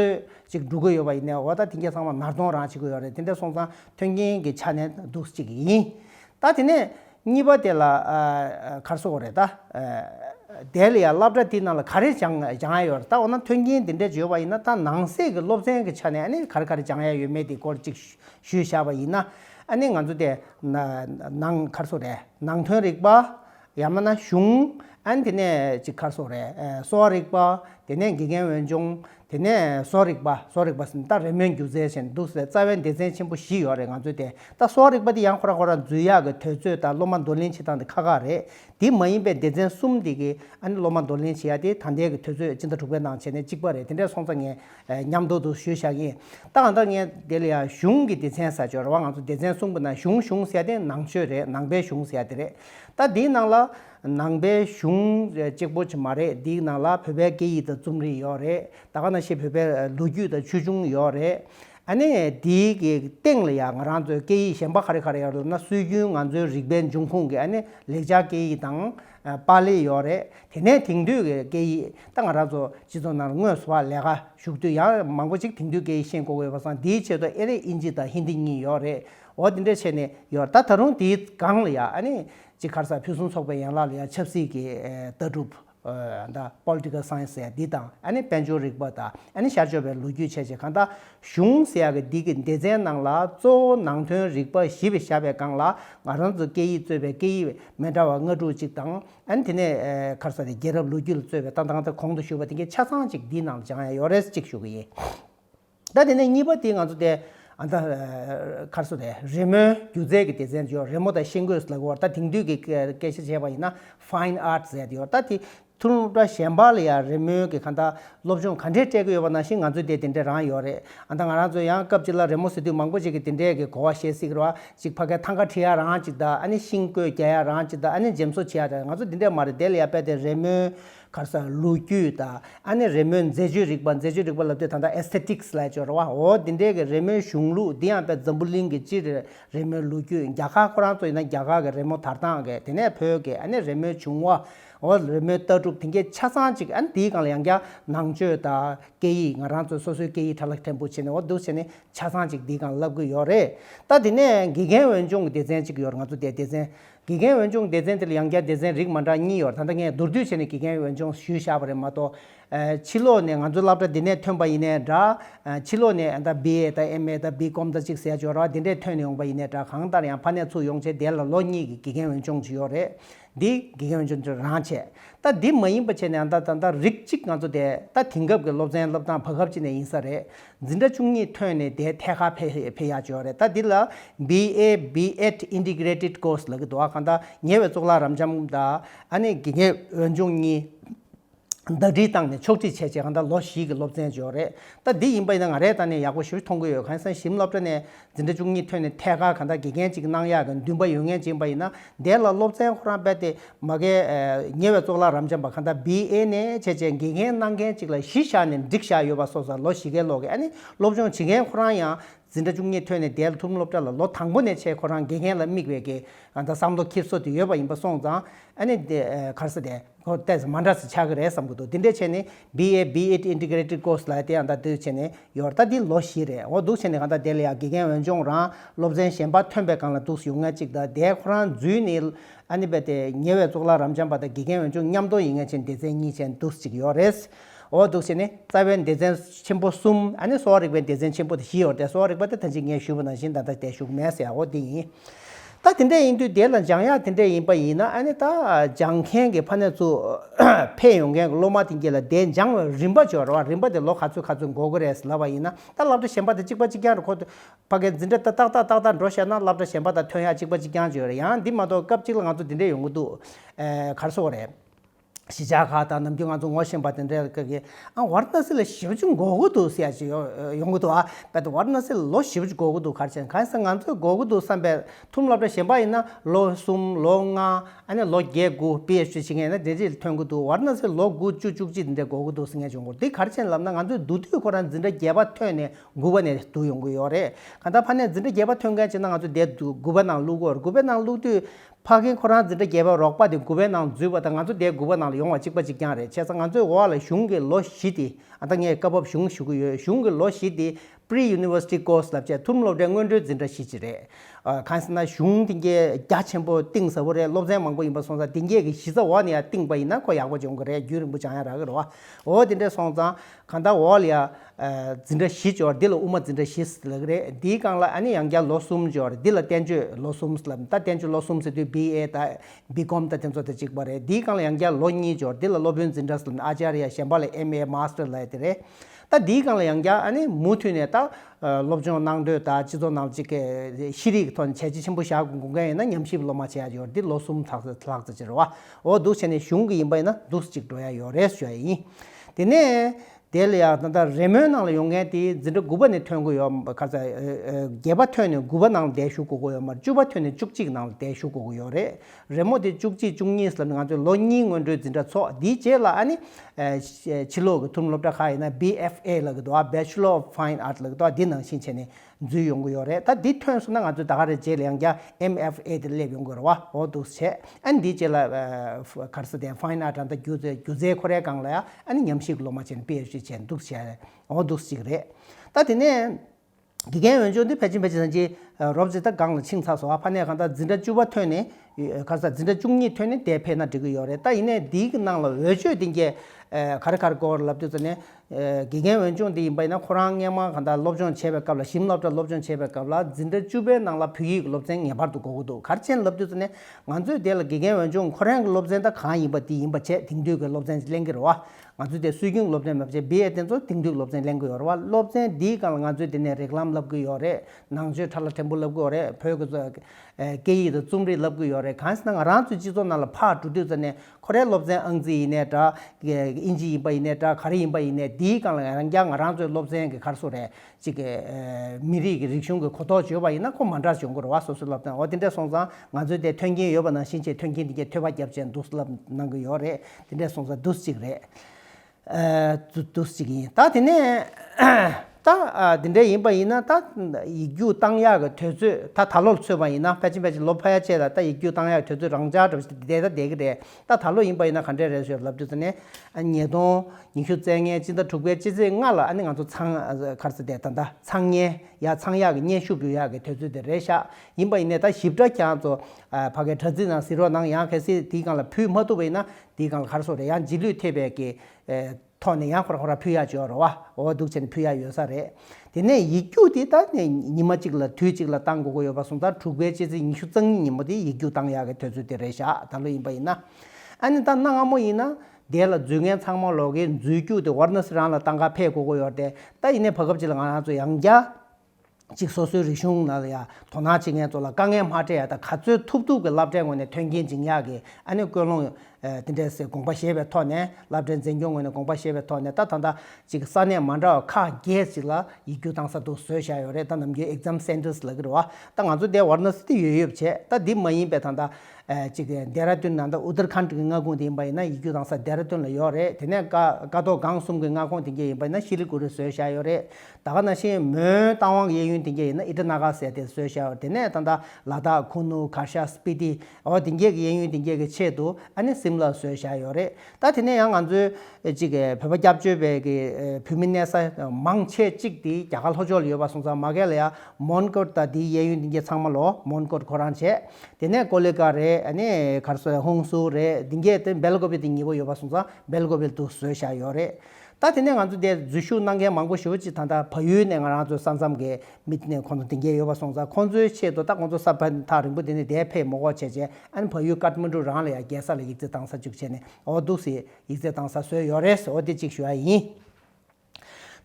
ཅིག་འགྲོ་གི་ཡོད་པ་ཡིན་ནའོ་ད་དེ་འགྱེད་ཚང་མ་ནར་གཏོང་རང་བྱེད་ཀྱི་ཡོད་རེད་དེ་འད་སོང་ཙང་ཐོན་སྐྱེན་གྱི་ཆ་ནས་འདུག་ཅིག་ཡིན་ད་དེ་ནས་གཉིས་པ་དེ་ལ་ཁར་སོ་རེད་ད། དེ་ལ་ཡང་བསླབ་སྒྲ་དེའི་ནང་ལ་ག་རེ་སྦྱང་ཡ་ཡོད་རེད་ད་འོ་ན་མཐུན་རྐྱེན་དེ་འདྲ་བརྗོད་པ་ཡིན་ན་ད་ནང་གསེས་ཀྱི་སློབ་ཚན་གྱི་ཆ་ནས་ནི་ག་རེ་ག་རེ་སྦྱང་ཡ་ཡོད་མེད་དེའི་སྐོར་ཅིག་ཞུས་བཞག་པ་ཡིན་ན་ནི་ང་ཚོ་དེ། ནང་ཁར་སོ་རེད་ནང་དོན་རིག་པ། ཡང་མིན་ན་གཞུང། ཨན་དེ་ནས་ཅིག་ཁར་སོགས་རེད། སོགས་རིག་པ། དེ་ནས་དགེ་རྒན་འོན་ཆུང། དེ་ནས་སོགས་རིག་པ། སོགས་རིག་པ། སྟག་རེ་མོས་འགྱུ་ཟེར་བཞིན་འདུག་ཟེར་རྩ་བའི་སྡེ་ཚན་ཆེན་པོ་བཞི་ཡོད་རེད་ང་ཚོའི་དེ་ལྟ་སོགས་རིག་པ་དེ་ཡང་ཁོ་རང་ཁོ་རང་རྫུན་གཡག་གི་དོད་རྩོད་དང་སློབ་མ་འདོར་ལེན་བྱེད་སྟངས་དེ་ཁག་ཁག་རེད། དེ་མ་ཡིན་པའི་སྡེ་ཚན་གསུམ་དེ་གི་ཨན་སློབ་མ་འདོར་ལེན་བྱེད་ཡ་དེ་ད་ལྟའི་གི་དོད་རྩོད་སྤྱི་ཟླ་དྲུག་པའི་ནང་བྱས་ནས་གཅིག་པ་རེད་དེ་འདྲས་སོང་ཙང་ངས་ཉམས་རྟོགས་དུ་ཞུ་བཞག་ཡིན། ལྟ་གང་ལྟར་ངས་དེ་ལ་ཡང་གཞུང་གི་སྡེ་ཚན་ཟེར་ཆོག་རེད་བ་ང་ཚོ་སྡེ་ཚན་གསུམ་གི་ནང་གཞུང་གཞུང་ཟེར་ཡ་དེ་ནང་ཆོས་རེད་ནང་པའི་གཞུང་ཟེར་ཡ་དེ་རེད། ད་འདིའི་ནང་ལ། ནང་པའི་གཞུང་གཅིག་པོ་མ་རེད་འདིའི་ནང་ལ་བོད་པའི་སྐད་ཡིག་དང་རྩོམ་རིག་ཡོད་རེད་ད་ག་ན་ཞེ་བོད་པའི་ལོ་རྒྱུས་དང་ཆོས་འབྱུང་ཡོད་རེད། ཨ་ནི་འདིའི་གི་སྟེང་ལ་ཡང་ང་རང་ཚོའི་སྐད་ཡིག་གཞན་པ་ག་རེ་ག་རེ་ཡོད་རེད་ན་སྲོལ་རྒྱུན་ང་ཚོའི་རིག་པའི་འབྱུང་ཁུངས་ཀྱི་ཨ་ནི་ལེགས་སྦྱར་སྐད་ཡིག་དང། པཱ་ལི་ཡོད་རེད་དེ་ནས་དེང་དུས་ཀྱི་སྐད་ཡིག་ད་ང་རང་ཚོ་སྤྱི་ཚོགས་ནང་ལ་དངོས་སུ་བ་ལས་ཀ་ཞུགས་དུས་ཡང་མང་པོ་ཅིག་དེང་དུས་སྐད་ཡིག་ཤེས་མགོ་བོས་པ་སང་འདིའི་ཆེད་དུ་ཨེ་རེད་དབྱིན་ཇི་དང་ཧིན་དི་གཉིས་ཡོད་རེད་འོ་དེ་འདྲའི་ཆེད་ནས་ཡོད་ད་ད་རུང་དེའི་སྒང་ལ་ཡང་གཅིག་ཁར་སར་ཕུན་སུམ་ཚོགས་པའི་ཡན་ལག་ལ་ཡང་ཆབ་སྲིད་ཀྱི་ལྟ་གྲུབ། Political Science། འདི་དང་དཔལ་འབྱོར་རིག་པ་དང་ཤར་ཕྱོགས་པའི་ལོ་རྒྱུས་འཆད་བྱེད་གང་དག་བྱུང། འདི་གི་སྡེ་ཚན་ནང་ལ་གཙོ་བོ་ནང་དོན་རིག་པ་ཞེས་པའི་བྱ་བའི་སྒང་ལ་ང་རང་ཚོ་སྐད་ཡིག་གཙོས་པའི་སྐད་ཡིག་མི་འདྲ་བ་ལྔ་དྲུག་ཅིག་དང། དེ་ནས་ཁར་སར་རྒྱལ་རབས་ལོ་རྒྱུས་ལ་གཙོས་པའི་ལྟ་སྟངས་དེ་གོང་དུ་ཞུས་པ་དེ་གའི་ཆ་ཚང་ཅིག་འདིའི་ནང་ལ་སྦྱང་ཡ་ཡོད་རེད་ཅིག་ཞུ་གི་ཡིན། ད་དེ་ནས་གཉིས་པ་དེ་ང་ཚོ་དེ། ཨ་མདའ། ཁར་སོ་རེད། རི་མོའི་སྒྱུ་རྩལ་གྱི་སྡེ་ཚན་དེ་ཡོད་རེད་རི་མོ་དང་ཤིང་བརྐོས་ལག་བར་ད་དེང་དུས་ཀྱི་སྐད་ཆ་བྱས་པ་ཡིན་ན Fine Art ཟེར་ཡོད་རེད་ད་དེ། ཐུང་སློབ་གྲྭ་གཞན་པ་ལ་ཡང་རི་མོའི་གི་ག་མདའ་སློབ་སྦྱོང་ག་འདྲས་སྤྲད་ཀྱི་ཡོད་པ་ནང་བཞིན་ང་ཚོའི་དེ་དེ་འདྲས་རང་ཡོད་རེད་ཨ་མདའ་ང་རང་ཚོ་ཡང་སྐབས་ཅིག་ལ་རི་མོ་ཟེར་དུས་མང་པོ་ཅིག་གི་དེ་འདྲས་གི་གོ་བ་ཤེས་སྲིད་རེད་བ་ཅིག་ཕ་གའི་ཐང་ཀ་བྲི་ཡག་རང་ཅིག་དང་ཨ་ནི་ཤིང་བརྐོས་རྒྱག་ཡག་རང་ཅིག་དང་ཨ་ནི་འཇེམ་བཟོ་བྱེད་ཡག་རེད་ང་ཚོ་དེ་འདྲས་མ་རེད་དེ་ལ་ཡང་དཔེ་དེ་རི་མོའི། ཁར་སང་ལུས་རྒྱུད་དང་ཨ་ནེ་རེ་མོའི་མཛེས་དཔྱོད་རིག་པ་མཛེས་དཔྱོད་རིག་པ་ལབ་དུས་ད་ལྟ Aesthetics ལ་སྦྱོར་བ་འོ་འདི་འདྲའི་གི་རེ་མོའི་གཞུང་ལུགས་འདི་ཡང་དཔལ་འཛམ་བུ་གླིང་གི་སྤྱིར་རེ་མོའི་ལུས་རྒྱུད་རྒྱ་གར་ཁོ་རང་ཚོ་ཡིན་ན་རྒྱ་གར་གི་རེ་མོ་དར་སྟངས་གི་དེ་ནས་བོད་ཀྱི་ཨ་ནེ་རེ་མོའི་བྱུང་བ་འོ་རེ་མོའི་ལྟ་གྲུབ་དེང་གི་ཆ་ཚང་ཅིག་ཨ་ནེ་དེའི་སྒང་ལ་ཡང་བསྐྱར་ནང་ཆོས་དང་སྐད་ཡིག་ང་རང་ཚོའི་སོ་སོའི་སྐད་ཡིག་ཁྲ་ལག་ཁྲེང་པུ་ཆེ་ནས་འོ་འདུག་བྱས་ནས་ཆ་ཚང་ཅིག་འདིའི་སྒང་ལ་ལབ་གི་ཡོད་རེད་ད་འདི་ནས་དགེ་རྒན་འོན་ཆུང་གི་སྡེ་ཚན་ཅིག་ཡོད་རེད་ང་ཚོ་དེ་སྡེ་ཚན་དགེ་རྒན་འོས་སྦྱོང་སྡེ་ཚན་དེར་ཡང་བསྐྱར་སྡེ་ཚན་རིགས་མ་འདྲ་གཉིས་ཡོད་ད་ལྟ་ངས་མདོར་བསྡུས་བྱས་ནས་དགེ་རྒན་འོས་སྦྱོང་ཞུས་བཞག་པ་རེད་མ་གཏོགས། ཕྱི་ལོགས་ནས་ང་ཚོའི་སླབ་གྲ་འདི་ནས་ཐོན་པ་ཡིན་ནས་འདྲ། ཕྱི་ལོགས་ནས་ད BA ད MA ད BCom ད་ཅིག་ཟས་སྦྱོར་ར་འདི་འདྲས་ཐོན་ཡོང་པ་ཡིན་ནས་འདྲ་གང་ལྟར་ཡང་ཕ་ནས་ཚུགས་ཡོང་བྱས་དེ་ལ་ལོ་གཉིས་ཀྱི་དགེ་རྒན་འོས་སྦྱོང་བྱས་ཡོད་རེད། འདི་དགེ་རྒན་འོས་སྦྱོང་འདི་རང་བྱས། ད་འདི་མ་ཡིན་པ་བྱས་ནས་ད་ད་རིགས་གཅིག་ང་ཚོ་དེ་ད་དེང་སྐབས་ཀྱི་སློབ་ཚན་སློབ་སྟངས་བག་ཧབ་ཅིག་ནས་ཡིན་ས་རེད། འཛིན་གྲྭ་བཅུ་གཉིས་ཐོན་ནས་དེ་ཐད་ཀར་ཕེ་ཧེ་ཕེ་ཡག་བྱས་བ་རེད་ད་འདི་ལ། བི་ཨེ་བི་ཨེད Integrated Course ལ་གི་འདུག་ཨ་ཁ་ད་ཉེ་བའི་གཙུག་ལག་རབ་འབྱམས་ད་ཨ་ནི་དགེ་རྒན་འོས་སྦྱོང་གཉིས་བདག་སྒྲིལ་བཏང་ནས་ཕྱོགས་སྒྲིག་བྱས་བྱས་ཁ་ད་ལོ་བཞི་གི་སློབ་ཚན་བྱས་བ་རེད་ད་འདི་ཡིན་པ་ཡིན་ན་ང་རེད་ད་ནས་ཡག་པོ་ཞུ་མཐོང་གི་ཡོད་ཁ་ས་ཞིམ་སློབ་གྲྭ་ནས་འཛིན་གྲྭ་བཅུ་གཉིས་ཐོན་ནས་ཐད་ཀར་གང་དག་དགེ་རྒན་ཅིག་གནང་ཡག་གི་འདུན་པ་ཡོད་ངེས་ཅན་པ་ཡིན་ན་དེ་ལ་སློབ་ཚན་ཁོ་རང་སྤེལ་ཏེ་མ་དགེ། ཉེ་བའི་གཙུག་ལག་རམ་འབྱམས་པ་གང་དག་བི་ཨེ་ནེ་བྱས་བྱས་དགེ་རྒན་གནང་མཁན་ཅིག་ལ་གཞི་བཞག་ནས་འགྲིག་བཞག་ཡོད་པ་སོགས་སར་ལོ་བཞི་ཀའི་ལོག་གི་ཨ་ནི་སློབ་སྦྱོང་བྱེད་མཁན་ཁོ་རང་ཡང་འཛིན་གྲྭ་བཅུ་གཉིས་ཐོན་ནས་དེ་ལ་ཐུག་རུང་སློབ་གྲྭ་ལ་ལོ་དང་པོ་ནས་ཆེས་ཁོ་རང་དགེ་རྒན་ལ་དམིགས་པའི་དགེ་གང་དག་བསམ་བློ་འཁྱེར་སོ་དེ་ཡོད་པ་ཡིན་པ་སོང་ཙང་ཨ་ནི་དེ་གར་ས་དེ། ཁོ་ལྟས་སུ་མ་འདྲ་སུ་ཆགས་ཀྱི་རེད་བསམ་གྱི་འདུག་དེ་འདྲའི་ཆེད་ནས BA BEd Integrated Course ལ་དེ་ཡང་ད་དུས་ཆེད་ནས་ཡོར་ད་འདི་ལོ་བཞི་རེད་འོ་འདུག་ཆེད་ནས་གང་ད་དེ་ལ་ཡང་དགེ་རྒན་འོན་ཆུང་རང་སློབ་ཚན་གཞན་པ་ཐོན་པའི་སྒང་ལ་འདུག་ཡོང་ངེས་གཅིག་ད་དེ་ཁོ་རང་རྫུན་ནི་ཨ་ནི་པའི་དེ་ཉེ་བའི་ཙོག་ལ་རམ་འབྱམས་པ་ད་དགེ་རྒན་འོན་ཆུང་མཉམ་དོ་ཡིན་ངེས་ཆེད་འདེ་ཚན་གཉིས་ཆེད་འདུག་གཅིག་ཡོར་རེད་འོ་འདུག་ཆེད་ནས་རྩ་བའི་འདེ་ཚན་ཆེན་པོ་གསུམ་ཨ་ནི་གསོ་བ་རིག་པའི་འདེ་ཚན་ཆེན་པོ་ད་བཞི་ཡོར་དེ་གསོ་བ་རིག་པ་ད་ད་ཅིག་ངས་ཞུས་པ་ནང་བཞིན་ད་ད་དེ་ཞུགས་མེད་ཟེར་ཡག་གོ་འདི་ཡིན། ད་དེ་འདྲ་ཡིན་དུས་དེ་ལ་སྦྱང་ཡག་དེ་འདྲ་ཡིན་པ་ཡིན་ན་ཨ་ནི་ད་སྦྱང་མཁན་གྱི་ཕ་ནས་ཚུ་ཕེ་ཡོང་མཁན་གྱི་སློབ་མ་དེ་གྱིས་ལ་དེ་སྦྱང་བའི་རིམ་པ་སྦྱོར་བ་རིམ་པ་དེ་ལོ་ག་ཚོད་ག་ཚོད་འགོར་གི་རེད་ལབ་པ་ཡིན་ན་ད་བསླབ་གྲྭ་གཞན་པ་དང་གཅིག་པ་གཅིག་རྐྱང་རེད་ཁོ་ཐོད་པ་གའི་འཛིན་གྲྭ་ཏག་ཏག་ཏག་ཏག་ཏག་འགྲོ་ཤེས་ན་བསླབ་གྲྭ་གཞན་པ་དང་ཐོན་ཡག་གཅིག་པ་གཅིག་རྐྱང་སྦྱོར་ཡང་འདི་མ་གཏོགས་སྐབས་གཅིག་ལ་ང་ཚོ་དེ་འདྲ་ཡོང་གི་འདུག་གར་སོང་བ་རེད། གཞིས་ཆགས་ཁག་དང་ནམ་རྒྱུན་ང་ཚོ་ངོ་ཤེས་པ་དེ་འདྲའི་སྐབས་ཀྱི་ཨང་བར་སྣ་སེ་ལ་བཞི་བཅུ་འགོ་གི་འདུག་ཟེར་ཡ་ཞིག་ཡོང་གི་འདུག་ཨ་ཕས་ད་བར་སྣ་སེ་ལ་ལོ་བཞི་བཅུ་འགོ་གི་འདུག་གར་བྱས་གང་ས་ང་ཚོས་འགོ་གི་འདུག་བསམ་པའི་ཐུམ་སློབ་གྲྭ་གཞན་པ་ཡིན་ན་ལོ་གསུམ་ལོ་ལྔ་ཨ་ནས་ལོ་བརྒྱད་དགུ་བེད་སྤྱོད་བྱེད་མཁན་ཡིན་ན་དེ་འདྲས་ཐོན་གི་འདུག་བར་སྣ་སེ་ལོ་དགུ་བཅུ་བཅུ་གཅིག་དེ་འདྲས་འགོ་གི་འདུག་ཟེར་མཁན་བྱུང་འདུག་གར་བྱས་ལབ་ན་ང་ཚོས་བསྡུ་དུས་ཁོ་རང་འཛིན་གྲྭ་བརྒྱད་པ་ཐོན་ནས་དགུ་བ་ནས་བསྡུ་ཡོང་གི་ཡོད་རེད་གང་ལྟར་ཕ་ནས་འཛིན་གྲྭ་བརྒྱད་པ་ཐོན་མཁན་བྱས་ན་ང་ཚོ་འདས་དགུ་བའི་ནང་བླུག་གོ་དགུ་བའི་ནང་བླུག་དུས་ཕ་གིན་ཁོ་རང་འཛིན་གྲྭ་རྒྱལ་བའི་རོགས་པ་དེ་དགུ་བའི་ནང་འཛུལ་བ་དང་ང་ཚོ་དེ་དགུ་བ་ནང་ལ་ཡོང་བ་གཅིག་པ་གཅིག་རྐྱང་རེད་བྱས་ཙང་ང་ཚོའི་འོག་ལ་གཞུང་གི་ལོ་བཞི་དེ་ཨ་མདའ་ངས་སྐབས་བབ་གཞུང་ཞུ་གི་ཡོད་གཞུང་གི་ལོ་བཞི་དེ Pre University Course ལབ་བྱས་ཐུམ་སློབ་གྲྭའི་སྔོན་འགྲོའི་འཛིན་གྲྭ་བཞི་གཅིག་རེད། གང་ཟེར་ན་གཞུང་དེ་འགྱེལ་རྒྱ་ཆེན་པོ་གཏིང་ཟབ་པོ་རེད་སློབ་ཚན་མང་པོ་ཡིན་པ་སོང་ཙང་དེ་འགྱེལ་གི་གཞི་རྩ་འོག་ནས་ཡང་གཏིང་པ་ཡིན་ན་གོ་ཡག་པོ་འབྱུང་གི་རེད་རྒྱུན་རིང་པོ་འབྱང་ཡང་རག་གི་རེད་བ་འོ་དེ་འདྲས་སོང་ཙང་གང་ལྟར་འོ་ལ། འཛིན་གྲྭ་བཞི་སྦྱོར་འདི་ལ་དབུ་མ་འཛིན་གྲྭ་བཞི་ཟེར་ལགས་རེད། འདིའི་རྐང་ལག་ཨནི་ཡང་བསྐྱར་ལོ་གསུམ་སྦྱོར་འདི་ལ་བསྟན་བཅོས་ལོ་གསུམ་ཟེར་ལབ་ད་བསྟན་བཅོས་ལོ་གསུམ་ཟེར་དུས་བི་ཨེ་དང། བི་ཀོམ་དང་དེ་ཚོ་དང་གཅིག་པ་རེད་འདིའི་རྐང་ལག་ཡང་བསྐྱར་ལོ་གཉིས་སྦྱོར་འདི་ལ་སློབ་དཔོན་འཛིན་གྲྭ་ཟེར་ལབ་ན་ཨ་ཅཱར་ཡ་གཞན་པ་ལ་ཨེམ་ཨེ་མཱ་སི་ཏར་ལ་ཡ་དེ་རེད། ད་འདིའི་རྐང་ལག་ཡང་བསྐྱར་ཨནི་མུ་མཐུད་ནས་ད། སློབ་སྦྱོང་གནང་འདོད་ད་སྤྱི་ཚོགས་ནང་ཅིག་གི་ཤེས་རིག་གི་ཐོག་ནས་བྱས་རྗེས་ཆེན་པོ་བཞག་དགོས་མཁན་ཡིན་ན་ཉམས་ཞིབ་སློབ་མ་བྱས་ཡ་སྦྱོར་འདི་ལོ་གསུམ་ལྷག་ཙི་ཅི་ར་བ་འོ་འདུག་བྱས་ནས་གཞུང་གི་ཡིན་པ་ཡིན་ན་འདུག་ཅིག་འགྲོ་ཡ་ཡོད་རེད་ཟེར་བྱས་ཡ་ཡིན། དེ་ནས། དེ་ལ་ཡང་ད་ལྟ་རེས་མོས་ནང་ལ་ཡོང་མཁན་དེ་འཛིན་གྲྭ་དགུ་པ་ནས་ཐོན་གོ་ཡོད་མ་ཁ་ཚ། བརྒྱད་པ་ཐོན་ནས་དགུ་པ་ནང་ལ་བསྡད་བཞུགས་དགོས་གོ་ཡོད་མ་བཅུ་པ་ཐོན་ནས་བཅུ་གཅིག་ནང་ལ་བསྡད་བཞུགས་དགོས་གོ་ཡོད་རེད། རེས་མོ་དེ་བཅུ་གཅིག་བཅུ་གཉིས་ལ་ང་ཚོའི་ལོ་གཉིས་སྔོན་འགྲོའི་འཛིན་གྲྭ་ཚོགས་དེའི་རྗེས་ལ་ཨ་ནི། ཕྱི་ལོག་གི་ཐུམ་སློབ་གྲྭ་ཁག་ཡིན་ན BFA ལགས་ཀྱི་འདུག་ཨ Bachelor of Fine Art ལགས་ཀྱི་འདུག་ཨ་དེ་ནང་བཞིན་བྱས་ནས། འཛུལ་ཡོང་གི་ཡོད་རེད་ད་འདི་ཐོན་སོང་ན་ང་ཚོས་ད་ག་རེ་རྗེས་ལ་ཡང་བསྐྱར MFA དེ་སླེབས་ཡོང་གི་རེད་བ་འོ་འདུག་བྱས་ཨ་ནི་འདིའི་རྗེས་ལ་གར་ས་དེ Fine Art དང་སྒྱུ་རྩལ་སྒྱུ་རྩལ་ཁོ་རའི་སྒང་ལ་ཡང་ཨ་ནི་ཉམས་ཞིབ་ལོ་མ་བྱས་ནས PHD བྱས་འདུག་བྱས་རེད་འོ་འདུག་ཅིག་རེད་ད་དེ་ནས་དགེ་རྒན་འོས་སྦྱོང་དེ་ཕལ་ཆེར་ཕལ་ཆེར་སངས་རྒྱས་རོབ་རྗེ་ད་སྒང་ལ་ཕྱིན་ཚར་སོང་ཨ་ཕ་ནས་གང་ལྟར་འཛིན་གྲྭ་བཅུ་བ་ཐོན་ནས་གར་ས་འཛིན་གྲྭ་བཅུ་གཉིས་ཐོན་ནས་དེ་ཕེབས་ན་འགྲིག་གི་ཡོད་རེད་ད་ཡིན་ནས་འདིའི་ནང་ལ་འོས་ཆོས་དེ་འགྱེལ་ག་རེ་ག་རེ་སྐོར་ལབ་དུས་ཙམ་ནས་དགེ་རྒན་འོས་སྦྱོང་དེ་ཡིན་པ་ཡིན་ན་ཁོ་རང་སྔས་མ་གང་དག་སློབ་སྦྱོང་བྱས་པའི་སྐབས་ལ་ཞིམ་སློབ་གྲྭ་སློབ་སྦྱོང་བྱས་པའི་སྐབས་ལ་འཛིན་གྲྭ་བཅུ་པའི་ནང་ལ་བོད་ཡིག་གི་སློབ་ཚན་ངེས་པར་དུ་གོ་གི་འདུག་གར་མཆན་ལབ་དུས་སུ་ནས་ང་ཚོས་དེ་ལ་དགེ་རྒན་འོས་སྦྱོང་ཁོ་རང་གི་སློབ་ཚན་ད་གང་ཡིན་པ་དེ་ཡིན་པ་བྱས་དེང་དུས་ཀྱི་སློབ་ཚན་གླེང་གི་རེད་བ། ང་ཚོས་དེ་སྲོལ་རྒྱུན་གྱི་སློབ་ཚན་མེད་པ་བྱས་བི་ཡས་དེ་ཚོ་དེང་དུས་ཀྱི་སློབ་ཚན་གླེང་གི་ཡོད་རེད་བ་སློབ་ཚན་དེའི་སྒང་ལ་ང་ཚོས་དེ་ནས་རིགས་ལམ་ལབ་གི་ཡོད་རེད་ནང་ཆོས་ཁྲ་ལ་ཕྲན་བུ་ལབ་གི་ཡོད་རེད་བོད་ཀྱི་སྐད་ཡིག་དང་རྩོམ་རིག་ལབ་གི་ཡོད་རེད་གང་ཟེར་ན་ང་རང་ཚོའི་སྤྱི་ཚོགས་ནང་ལ་ཕག་གྲུ་དུས་སུ་ནས་ཁོ་རའི་སློབ་ཚན་ཨང་རྩིས་ཡིན་ནས་འདྲ། དབྱིན་ཇི་ཡིན་པ་ཡིན་ནས་འདྲ་ག་རེ་ཡིན་པ་ཡིན་ནས་འདིའི་སྒང་ལ་རང་རྐྱ་ང་རང་ཚོའི་སློབ་ཚན་གྱི་ཁར་སོ་རས་ཅིག་གིས་མི་རིགས་ཀྱི་རིག་གཞུང་གི་གོ་རྟོགས་བརྗོད་པ་ཡིན་ན་ཁོ་མ་འདྲར་བྱུང་གོ་ར་བ་སོ་སོའི་སློབ་ཚན་འོ་དེ་འདྲས་སོང་ཙང་ང་ཚོའི་དེ་ཐོན་གྱིན་ཡོད་པ་ནང་བཞིན་ཆེས་ཐོན་གྱིན་འདི་གས་ཐོས་པ་རྒྱབ་ཅན་འདུག་ལབ་གནང་གི་ཡོད་རེད་དེ་འདྲས་སོང་ཙང་བསྡུ་གཅིག་རེད། བསྡུ་ཞིག་ཡིན་ད་དེ་ནས་ད་དེ་འདྲ་ཡིན་པ་ཡིན་ན་ད་ཡིག་རྒྱུགས་གཏང་ཡག་གི་དོད་ཚོད་ད་ད་ལོར་ཚུད་པ་ཡིན་ན་ཕལ་ཆེན་ཕལ་ཆེན་ལོ་ཕ་ཡ་ཆད་ལ་ད་ཡིག་རྒྱུགས་གཏང་ཡག་གི་དོད་ཚོད་རང་འཇགས་འགྲོ་བསྡད་ད་བསྡད་གི་རེད་ད་ད་ལོ་ཡིན་པ་ཡིན་ན་ག་འདྲས་རེད་ཞོ་ལབ་རྒྱུ་ཚ་ནས་ཉིས་སྟོང་ཉི་ཤུ་བཙས་ལྔའི་སྤྱི་ཟླ་དྲུག་པའི་ཕྱི་ཚེས་ལྔ་ལ་ཨ་ནི་ང་ཚོ་ཚང་གར་ཚ་བསྡད་ད་ད་ཚང་བསྙལ་ཡག་ཚང་ཡག་གི་བསྙལ་ཤུགས་བརྒྱུགས་ཡག་གི་དོད་ཚོད་དེ་རེད་ཤག་ཡིན་པ་ཡིན་ནས་ད་ཞིབ་ཕྲ་གྱང་ཚོ་ཕ་གའི་དྲ་ཚིགས་ནང་ཟིག་རོགས་གནང་ཡང་གལ་སྲིད་དེའི་སྒང་ལ་བུད་མ་ཐུབ་པ་ཡིན་ན་དེའི་གང་ལ་གར་སོགས་རེད་ཡང་རྗེས་ལུས་ཐེབས་པའི་གི་ཐོག་ནས་ཡང་ཁོ་ར་ཁོ་ར་ཕུལ་ཡག་བྱོས་རོ་བ་འོ་སྡུག་ཆེ་ནས་ཕུལ་ཡག་ཡོད་ས་རེད་དེ་ནས་ཡིག་རྒྱུགས་དེ་ད་ནས་ཉི་མ་གཅིག་ལ་དུས་གཅིག་ལ་བཏང་དགོས་ཀྱི་ཡོད་པ་སོང་ཙང་དྲུག་པའི་ཕྱི་ཚེས་ཉི་ཤུ་རྩ་གཉིས་ཉིན་མོ་དེ་ཡིག་རྒྱུགས་བཏང་ཡག་གི་དོད་ཚུལ་དེ་རེད་ཤག་ད་ལོ་ཡིན་པ་ཡིན་ན་ཨ་ནི་ད་གནའ་སྔ་མོ་ཡིན་ན་དེ་ལ་རྫུས་ངན་ཚང་མ་ལོག་གི་རྫུས་རྒྱུགས་དེ་བར་ན་སི་རང་ལ་བཏང་ག་ཕེབས་དགོས་ཀྱི་ཡོད་རེད་ད་ཡིན་ནས་བར་སྐབས་གཅིག་ལ་ང་རང་ཚོ་ཡང་རྒྱ་ཅིག་སོ་སོའི་རིག་གཞུང་ལ་ཡང་དོ་སྣང་བྱེད་མཁན་ཚོ་ལ་དཀའ་ངལ་མ་སྤྲད་ཡ་ད་ག་ཚོད་ཐུབ་ཐུབ་ཀྱི་བསླབ་གྲྭའི་ངོས་ནས་དོན་རྐྱེན་འབྱིན་ཡག་གི་ཨ་ནི་ཀོས་ལོང། དེ་འདྲའི་སའི་དགོངས་པ་བཞེས་པའི་ཐོག་ནས་བསླབ་གྲྭའི་འཛིན་སྐྱོང་ངོས་ནས་དགོངས་པ་བཞེས་པའི་ཐོག་ནས་ད་ད་ལྟ་ཅིག་ས་གནས་མ་འདྲ་བ་ཁག་བརྒྱད་ཅིག་ལ་ཡིག་རྒྱུགས་བཏང་ས་འདུག་བཟོས་བཞག་ཡོད་རེད་ད་ནམ་རྒྱུན exam centers ལག་གི་རེད་བ་ད་ང་ཚོ་དེ་བར་ན་སི་ཏི་ཡོད་ཡོད་བྱས་ད་འདི་མ་ཡིན་པའི་ད་ད་ཅིག Dehradun ན་ད Uttarakhand གི་མངའ་ཁུངས་དེ་ཡིན་པ་ཡིན་ན་ཡིག་རྒྱུགས་བཏང་ས Dehradun ལ་ཡོད་རེད་དེ་ནས་ཀ་ཀ་ཏོ་སྒང་གསུམ་གྱི་མངའ་ཁོངས་དེ་གྱི་ཡིན་པ་ཡིན་ན Siliguri བཟོས་བཞག་ཡོད་རེད་ད་ག་ན་ཤེས་མོད་རྟ་དབང་གི་གཡས་གཡོན་དེ་འགྱེལ་ཡིན་ན་ཨི་ཏྲ་ན་ག་ཟེར་དེ་བཟོས་ཤག་དེ་ནས་ད་ད་ལ་དྭགས་ཁུ་ནུ་གྷར་ཤ་སྤི་ཏི་འོ་དེ་འགྱེལ་གི་གཡས་གཡོན་དེ་འགྱེལ་གི་ཆེད་དུ་ཨ་ནི་སིམ་ལ་བཟོས་ཤག་ཡོད་རེད་ད་དེ་ནས་ཡང་ང་ཚོའི་ཅིག་བོད་པ་སྐྱབས་བཅོལ་བའི་གི་བུད་མེད་གནས་ས་མང་ཆེ་གཅིག་དེ་རྒྱ་གར་ལྷོ་ཕྱོགས་ལ་ཡོད་པ་སོང་ཙང་མ་གལ་ལ་ཡང་མོན་ཀོར་ད་དེའི་གཡས་གཡོན་དེ་འགྱེལ་ཚང་མ་ལོ་མོན་ཀོར་ཁོ་རང་བྱས་དེ་ནས་ཀོ་ལི་ཀ་རེད་ཨ་ནི་གྷར་སོ་ཧུང་སུ་རེད་དེ་འགྱེལ་དེ་སྦེལ་ཀོ་བི་དེ་ཉི་བོ་ཡོད་པ་སོང་ཙང་སྦེལ་ཀོ་བི་ལ་དུ་བཟོས་ཤག་ཡོད་རེད་ད་དེ་ནས་ང་ཚོ་འདིར་འཛུལ་ཞུགས་གནང་མཁན་མང་པོ་ཞིག་ཅིག་ད་ལྟ་བལ་ཡུལ་ནས་ང་རང་ཚོའི་ས་མཚམས་ཀྱི་མི་དེ་ནས་ཁོང་ཚོ་འདི་འགྱེལ་ཡོད་པ་སོང་ཙང་ཁོང་ཚོའི་ཆེད་དུ་ད་ཁོང་ཚོ་ས་ཕ་ཐག་རིང་པོ་དེ་ནས་དེའི་ཕས་མོ་ཁོག་བྱས་རྗེས་ཨན་བལ་ཡུལ་ཀར་མུན་ཀྲུ་རང་ལ་ཡང་རྒྱལ་ས་ལ་ཡིག་རྩིས་བཏང་ས་བཅུག་བྱས་ནས་འོ་འདུག་སི་ཡིག་རྩིས་བཏང་ས་སོས་ཡོད་རེད་འོ་དེ་གཅིག་ཞུ་ཨ་ཡིན།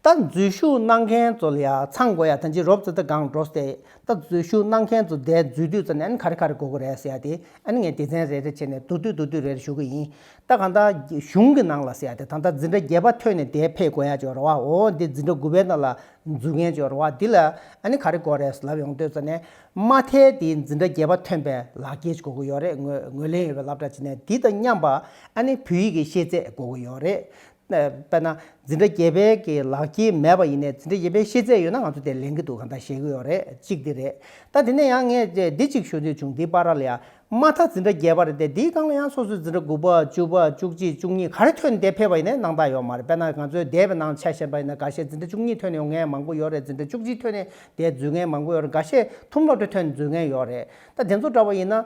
ད་འཛུལ་ཞུགས་གནང་མཁན་ཚོ་ལ་ཡང་ཚང་དགོས་ཡ་ད་འཇིགས་རོབ་ཙི་ད་སྒང་འགྲོ་སྟེ་ད་འཛུལ་ཞུགས་གནང་མཁན་ཚོ་འདས་འཛུལ་དུས་ཙམ་ནས་ཨན་ག་རེ་ག་རེ་དགོས་གོ་རེད་སི་ཡ་དེ་ཨན་ངས་སྡེ་ཚན་རེ་རེ་བྱས་ནས་འདུག་དུས་འདུག་དུས་རེ་རེ་ཞུ་གི་ཡིན། ད་གང་ལྟར་གཞུང་གི་ནང་ལ་གསལ་ཏེ་ད་ལྟ་འཛིན་གྲྭ་བརྒྱད་པ་ཐོན་ནས་དེའི་ཕས་གོ་ཡ་ཅོ་ར་བ་འོ་འདི་འཛིན་གྲྭ་དགུ་པའི་ནང་ལ་འཛུལ་མཁན་ཅོ་ར་བ་འདི་ལ་ཨ་ནི་ག་རེ་གོ་རེས་ལབ་ཡོང་ལྟོས་ཙ་ནས་མ་མཐའི་དེའི་འཛིན་གྲྭ་བརྒྱད་པ་ཐོན་པའི་ལག་སྐྱེས་ཅིག་གོ་གི་ཡོད་རེད་ངོས་ལེན་ཡོད་པའི་ལབ་གྲ་ཅིག་ནས་འདི་དང་མཉམ་པ་ཨ་ནི་བོད་ཡིག་གི་ཤེས་ཚད་གོ་གི་ཡོད་རེད། དཔེར་ན་འཛིན་གྲྭ་བརྒྱད་པའི་གི་ལག་སྐྱེས་མེད་པ་ཡིན་ནས་འཛིན་གྲྭ་བརྒྱད་པའི་ཤེས་ཚད་ཡོད་ན་ང་ཚོ་དེ་ལེན་གི་འདུག་གང་ལྟར་ཞེས་གི་ཡོད་རེད་གཅིག་འདི་རེད། ད་དེ་ནས་ཡང་ངས་འདི་གཅིག་ཞུ་འདོད་བྱུང་འདི་པ་ར་ལ་ཡ་མ་མཐའ་འཛིན་གྲྭ་བརྒྱད་པ་རེད་དེ་དེའི་སྒང་ལ་ཡང་སོ་སོའི་འཛིན་གྲྭ་དགུ་པ་བཅུ་པ་བཅུ་གཅིག་བཅུ་གཉིས་ག་རེ་ཐོན་འདས་ཕེབས་པ་ཡིན་ནའི་སྣང་བརྟགས་ཡོད་མ་རེད་དཔེར་ན་ང་ཚོའི་སྡེ་བའི་ནང་ཆ་ཞེན་པ་ཡིན་ན་འགའ་ཤས་འཛིན་གྲྭ་བཅུ་གཉིས་ཐོན་ཡོང་མཁན་མང་པོ་ཡོད་རེད་འཛིན་གྲྭ་བཅུ་གཅིག་ཐོན་ནས་འདས་རྫུས་མཁན་མང་པོ་ཡོད་རེད་འགའ་ཤས་ཐུམ་སློབ་གྲྭ་ཐོན་རྫུས་མཁན་ཡོད་རེད་ད་དེ་ཚོ་འདྲ་བ་ཡིན་ན།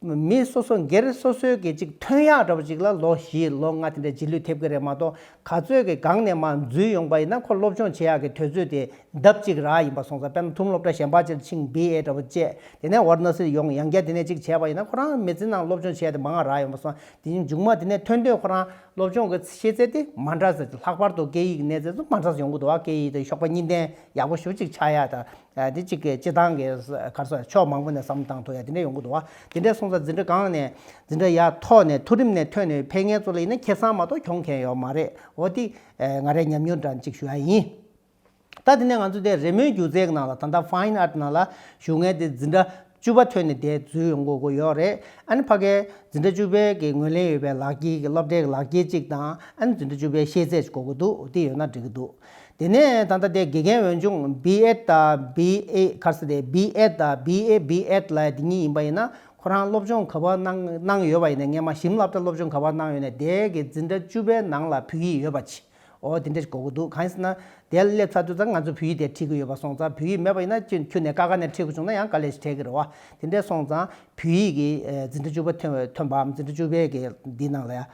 མི་སོ་སོ་སྒེར་སོ་སོའི་གི་ཅིག་ཐོན་ཡག་འདྲ་བ་ཅིག་ལ་ལོ་བཞི་ལོ་ལྔ་དེ་འདྲའི་རྗེས་ལུས་ཐེབས་ཀྱི་རེད་མ་གཏོགས་ག་ཚོད་ཀྱི་སྒང་ནས་མ་འཛུལ་ཡོང་པ་ཡིན་ན་ཁོ་སློབ་སྦྱོང་བྱེད་ཡག་གི་དུས་ཚོད་དེ་ལྡབ་གཅིག་རག་ཡིན་པ་སོང་ཙང་དཔེར་ན་ཐུམ་སློབ་གྲྭ་གཞན་པ་ཅིག་ལ་ཕྱིན་བི་ཨེ་འདྲ་བོ་བཅས་དེ་ནས་བར་ན་སིར་ཡོང་ཡང་བསྐྱར་དེ་ནས་ཅིག་བྱས་པ་ཡིན་ན་ཁོ་རང་མི་ཚེ་ནང་སློབ་སྦྱོང་བྱས་དེ་མ་འང་རག་ཡོང་པ་སོང་དེ་ཉིད་མཇུག་མ་དེ་ནས་ཐོན་དུས་ཁོ་རང་སློབ་སྦྱོང་གི་ཤེས་ཚད་དེ་མ་འདྲ་ཟེར་ལྷག་པར་དུ་སྐད་ཡིག་གི་གནས་ཚད་སུ་མ་འདྲ་ས་ཡོང་གི་འདུག་བ་སྐད་ཡིག་དེ་ཞོགས་པ་གཉིས་ལྡན་ཡག་པོ་ཞུ་ཅིག་ཆགས་ཡ་དང། དེ་གཅིག་གིས་སྤྱི་བཏང་གི་ཁར་སོགས་ཕྱོགས་མང་པོ་ནས་བསམ་བློ་བཏང་ཐུབ་ཡ་དེ་འདྲའི་ཡོང་གི་འདུག་བ། དེ་འདྲའི་གསུང་ས་འཛིན་གྲྭ་གང་ནས་འཛིན་གྲྭ་ཡ་ཐོག་ནས་ཐུ་རིམ་ནས་ཐོན་ནས་ཕལ་ངན་གཙོ་ལ་ཡིན་ན་ཁེ་སང་མ་གཏོགས་གྱོང་མཁན་ཡོག་མ་རེད་འོ་དེ་ང་རས་ཉམས་མྱོང་འདྲ་གཅིག་ཞུ་ཡ་ཡིན། ད་དེ་ནས་ང་ཚོ་དེ་རེ་མོའི་སྒྱུ་རྩལ་གི་ནང་ལ་ད་ལྟ Fine Art ནང་ལ་ཞུགས་ངེས་དེ་འཛིན་གྲྭ་བཅུ་པ་ཐོན་ནས་དེ་རྫུས་ཡོང་དགོས་དགོས་ཡོད་རེད་ཨ་ནི་ཕ་གའི་འཛིན་གྲྭ་བཅུ་པའི་གི་ངོས་ལེན་ཡོད་པའི་ལག་དཀྱིལ་གི་སློབ་གྲྭའི་གི་ལག་དཀྱིལ་གཅིག་དང་ཨ་ནི་འཛིན་གྲྭ་བཅུ་པའི་ཤེས་ཚད་གཅིག་གོ་དགོས་འདུག་དེ་ཡོད་ན་འགྲིག་གི་འདུག་དེ་ནས་ད་ལྟ་དེ་དགེ་རྒན་འོས་སྦྱོང BEd དང BA ཁར་སི་དེ BEd དང BA BEd ལ་དེ་གཉིས་ཡིན་པ་ཡིན་ན་ཁོ་རང་སློབ་སྦྱོང་ག་པར་གནང་གནང་ཡོད་པ་ཡིན་ནས་ངས་མ་ཞིམ་སླབ་གྲྭ་སློབ་སྦྱོང་ག་པར་གནང་ཡོད་ནས་དེ་གི་འཛིན་གྲྭ་བཅུ་པའི་ནང་ལ་བུད་ཡི་ཡོད་པ་ཅི། འོ་དེ་འདྲས་གོ་གི་འདུག་གང་ཡིན་ཟེར་ན། དེ་སླེབས་ཚར་དུས་ཙང་ང་ཚོས་བོད་ཡིག་དེ་ཁྲིད་གི་ཡོད་པ་སོང་ཙང་བོད་ཡིག་མེད་པ་ཡིན་ན་ཁྱོད་ཁྱོད་ནས་དཀའ་དཀའ་ནས་ཁྲིད་གི་བྱུང་ན་ཡང་དཀའ་ལས་ཞིག་འཕྲད་གི་རེད་བ། དེ་འདྲས་སོང་ཙང་བོད་ཡིག་གི་འཛིན་གྲྭ་བཅུ་པ་ཐོན་བས་ཐོན་པའམ་འཛིན་གྲྭ་བཅུ་པའི་གི་འདི་ནང་ལ་ཡང་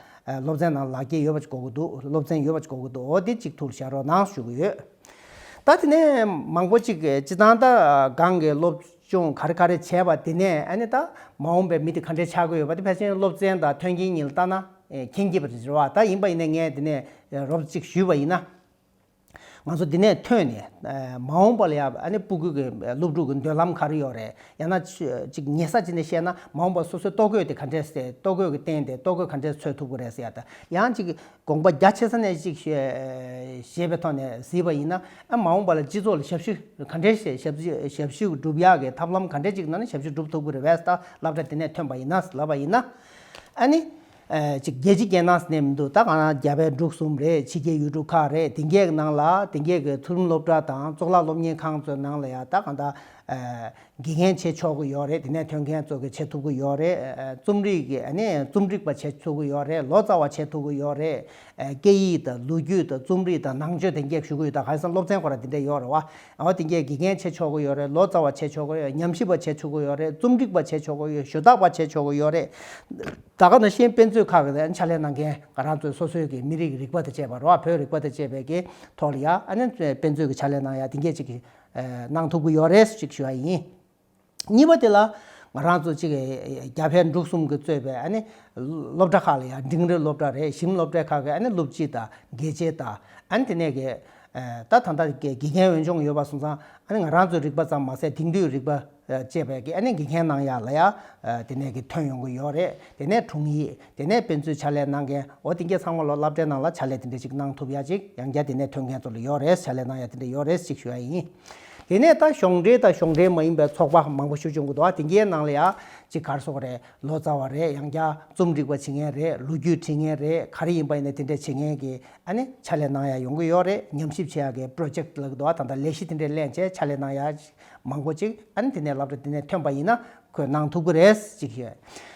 སློབ་ཚན་ནང་ལག་འཁྱེར་ཡོད་པ་ཅིག་གོ་གི་འདུག་སློབ་ཚན་ཡོད་པ་ཅིག་གོ་གི་འདུག་འོ་དེ་གཅིག་ཐུགས་ལ་བཞག་རོགས་གནང་ཞུ་གི་ཡོད། ད་དེ་ནས་མང་པོ་ཅིག་གི་སྤྱི་ཚང་དང་སྒང་གི་སློབ། ཅུང་ག་རེ་ག་རེ་བྱས་པ་དེ་ནས་ཨ་ནི་ད་མ་འོངས་པའི་མི་དེ་ག་འདྲའི་ཆགས་ཀྱི་ཡོད་པ་དེ་ཕལ་ཆེན་སློབ་ཚན་དང་མཐུན་གྱིན་ཡིན་ལ་ལྟ་ན་མཁྱེན་གྱི་པ་རེད་བ་ད་ཡིན་པ་ཡིན་ནས་ངས་དེ་ནས་རོབ་ཅིག་ཞུས་པ་ཡིན་ན། ང་ཚོ་དེ་ནས་ཐོན་ནས་མ་འོངས་པ་ལ་ཡང་ཨ་ནི་སྤུ་གུས་ཀྱི་སློབ་ཕྲུག་གི་འདོད་ལམ་ག་རེ་ཡོད་རེད་ཡང་ན་ཅིག་ཉེ་ས་ཅིག་ནས་བཤད་ན་མ་འོངས་པ་སོ་སོའི་ལྟོ་གོས་དེ་ག་འདྲས་སེ་ལྟོ་གོས་ཀྱི་སྟེང་དེ་ལྟོ་གོས་ག་འདྲས་འཚོལ་ཐུབ་ཀྱི་རེད་ཟེར་ཡང་ཅིག་དགོངས་པ་རྒྱ་ཆེ་ས་ནས་ཅིག་ཞེས་པའི་ཐོག་ནས་གཟིགས་པ་ཡིན་ན་ཨ་མ་འོངས་པ་ལ་སྤྱི་ཚོགས་ལ་ཞབས་ཞུ་ག་འདྲའི་ཞབས་ཞུ་བསྒྲུབ་ཡག་གི་ཐབས་ལམ་ག་འདྲའི་ཅིག་གནང་ན་ཞབས་ཞུ་བསྒྲུབ་ཐུབ་ཀི་རེད་བས་ད་སླབ་གྲ་དེ་ནས་ཐོན་པ་ཡིན་ན་ལབ་པ་ཡིན་ན་ཨ་ནི། ཅིག་རྒྱལ་སྤྱི་སྐད་ནང་ཟེར་ནས་མི་འདུག་ད་གང་ན་རྒྱ་བལ་འབྲུག་གསུམ་རེད་ཕྱི་རྒྱལ་ཡུལ་གྲུ་ཁག་རེད་དེང་གས་ནང་ལ་དེང་གས་ཀྱི་མཐོ་རིམ་སློབ་གྲ་དང་གཙུག་ལག་སློབ་གཉེར་ཁང་ཚོའི་ནང་ལ་ཡང་ད་གང་ད། དགེ་རྒན་བྱེད་ཆོག་གི་ཡོད་རེད་དེ་ནས་ཐོན་མཁན་ཚོ་གི་བྱེད་ཐུབ་གི་ཡོད་རེད་རྩོམ་རིག་གི་རྩོམ་སྒྲིག་པ་བྱེད་ཐུབ་གི་ཡོད་རེད་ལོ་ཙཱ་བ་བྱེད་ཐུབ་གི་ཡོད་རེད་སྐད་ཡིག་དང་ལོ་རྒྱུས་དང་རྩོམ་རིག་དང་ནང་ཆོས་དེ་འགས་ཞུ་གི་ཡོད་ད་ག་ས་སློབ་ཚན་གོ་ར་དེ་འདྲས་ཡོད་རེད་བ་དེ་འགས་དགེ་རྒན་བྱེད་ཆོག་གི་ཡོད་རེད་ལོ་ཙཱ་བ་བྱེད་ཆོག་གི་ཡོད་ཉམས་ཞིབ་པ་བྱེད་ཆོག་གི་ཡོད་རེད་རྩོམ་སྒྲིག་པ་བྱེད་ཆོག་གི་ཡོད་ཞུ་དག་པ་བྱེད་ཆོག་གི་ཡོད་རེད་ད་ག་ནང་བཞིན་དཔེ་མཛོད་ཁག་གི་ཕྱག་ལས་གནང་མཁན་ག་རང་ཚོས་སོ་སོའི་གི་མི་རིགས་རིག་པ་དང་བཅས་པ་རོ་བོད་རིག་པ་དང་བཅས་པའི་གི་ཐོག་ལ་ཡ་དཔེ་མཛོད་གི་ཕྱག་ལས་གནང་ཡ་དེ་འགས་ཅིག་གི། གནང་ཐུབ་ཀྱི་ཡོད་རེད་ཅིག་ཞུ་བ་ཡིན། གཉིས་པ་དེ་ལ་ང་རང་ཚོ་ཅིག་རྒྱ་བལ་འབྲུག་གསུམ་གྱི་གཙོས་པའི་སློབ་གྲྭ་ཁག་ལ་ཡང་འབྲིང་རིགས་སློབ་གྲྭ་རེ་གཞིམ་སློབ་གྲྭའི་ཁག་གི་སློབ་སྤྱི་དང་དགེ་ཆེ་དང་དེ་ནས་ཀྱི་ད་ད་ལྟ་དགེ་རྒན་འོས་སྦྱོང་ཡོད་པ་སོང་ཙང་ང་རང་ཚོའི་རིག་པ་ཙམ་མ་ཟད་དེང་དུས་རིག་པ། ཅེས་པའི་གི་ཨ་ནི་འགི་མཁན་ནང་ཡ་ལ་ཡ་དེ་ནས་གི་ཐོན་ཡོང་གི་ཡོད་རེད་དེ་ནས་དྲུང་ཡིག་དེ་ནས་དཔེ་མཛོད་བྱ་ལས་གནང་མཁན་འོ་དེ་འགའི་ཚང་མ་ལོ་བསླབ་གྲྭའི་ནང་ལ་བྱ་ལས་དེ་འདྲ་ཅིག་གནང་ཐུབ་ཡ་ཅིག་ཡང་བརྒྱ་དེ་ནས་ཐོན་མཁན་ཚོ་ལ་ཡོད་རེད་བྱ་ལས་གནང་ཡ་དེ་འདྲ་ཡོད་རེད་ཅིག་ཞུ་ཡ་ཡིན། དེ་ནས་ད་གཞོགས་འདྲེས་ད་གཞོགས་འདྲེས་མ་ཡིན་པའི་ཚོགས་པ་མང་པོ་ཞུ་བྱུང་གི་འདུག་ཨ་དེ་འགའི་ནང་ལ་ཡ་ཅིག་གར་སོང་རེད་ལོ་ཙཱ་བ་རེད་ཡང་བརྒྱ་རྩོམ་སྒྲིག་པ་བྱེད་མཁན་རེད་ལོ་རྒྱུས་བྲིས་མཁན་རེད་ག་རེ་ཡིན་པ་ཡིན་ནའི་དེ་འདྲ་བྱེད་མཁན་གི་ཨ་ནི་བྱ་ལས་གནང་ཡ་ཡོང་གི་ཡོད་རེད་ཉམས་ཞིབ་བྱེད་ཡ་གི Project ལ་གི་འདུག་ད་ད་ལས་གཞི་དེ་འདྲའི་གླན་བྱས་བྱ་ལས་གནང་ཡ། མང་པོ་ཅིག་ཨ་ནི་དེ་ནས་ལབ་ཏུ་དེ་ནས་ཐོན་པ་ཡིན་ན་ཁོས་གནང་ཐུབ་ཀི་རེད་ཅིག་ཞུས།